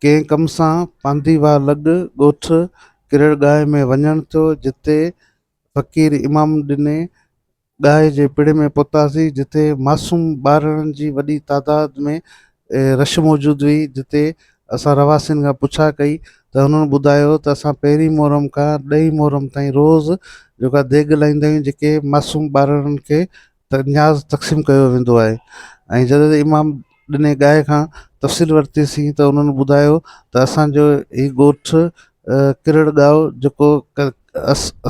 ڪنهن ڪم سان پانڌي واهه لڳ ڳوٺ ڪرڙ ڳاهي ۾ وڃڻ ٿيو جتي فقير امام ڏني ڳاهي جي پڙي ۾ پهتاسين جتي معصوم ٻارڙن جي وڏي تعداد ۾ رش موجود هئي جتي اسان رهواسين کان پڇا ڪئي ته هنن ٻڌايو ته اسان پهرين محرم کان ڏهين محرم تائين روز جيڪا ديڳ لائيندا آهيون جيڪي معصوم ٻارڙن کي ته نياز تقسيم ڪيو ويندو آهي ۽ جڏهن ته امام ڏني ڳائي کان تفصيل ورتيسين ته انهن ٻڌايو ته اسان جو هي ڳوٺ ڪرڙ ڳائو جيڪو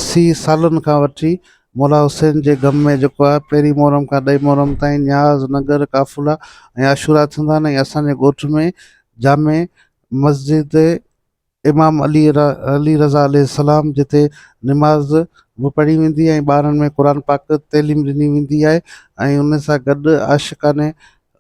اسي سالن کان وٺي مولا حسين جي غم ۾ جيڪو آهي پهرين محرم کان ڏهين محرم تائين نياز ننگر قافلا ۽ عاشورا ٿيندا آهن ۽ اسان جي ڳوٺ ۾ جامع مسجد امام علي علي رضه عليه السلام جتي نماز به پڙهي ويندي ۽ ٻارن ۾ قرآن پاڪ تعليم ڏني ويندي آهي ۽ ان سان گڏ عاشقان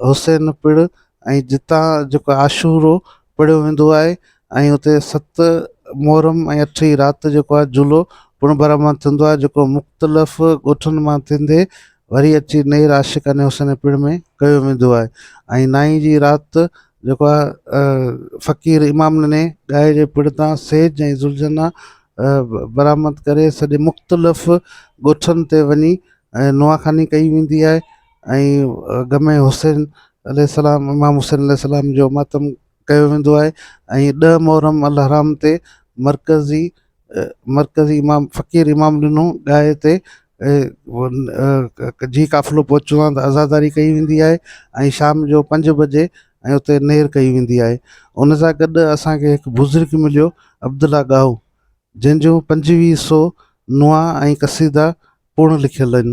حسين پڻ ۽ جتان جيڪو عاشورو پڙهيو ويندو آهي ۽ اتي ست محرم ۽ اٺ ئي رات جيڪو آهي جلو پڻ برآمد ٿيندو آهي جيڪو مختلف ڳوٺن مان ٿيندي وري اچي نير عاشقان حسين پڻ ۾ ڪيو ويندو آهي ۽ نائين جي رات جيڪو آ فقير امام نني ڳائي جي پڙ تان سيج ۽ ذوالجنا برآمد ڪري سڄي مختلف ڳوٺن تي وڃي ۽ نواخاني ڪئي ويندي آهي ۽ غم حسين عليه السلام امام حسين عليه السلام جو ماتم ڪيو ويندو آهي ۽ ڏهه محرم الحرام تي مرڪزي مرڪزي امام فقير امام ڏنو ڏاهي تي جي قافلو پهچندو آهي ته عزاداري ڪئي ويندي آهي ۽ شام جو پنج بجي ۽ اتي نير ڪئي ويندي آهي ان سان گڏ اسانکي هڪ بزرگ مليو عبدالله ڳاهو جنهنجو پنجويهه سو نوحا ۽ قصيدا پوڙ لکيل آهن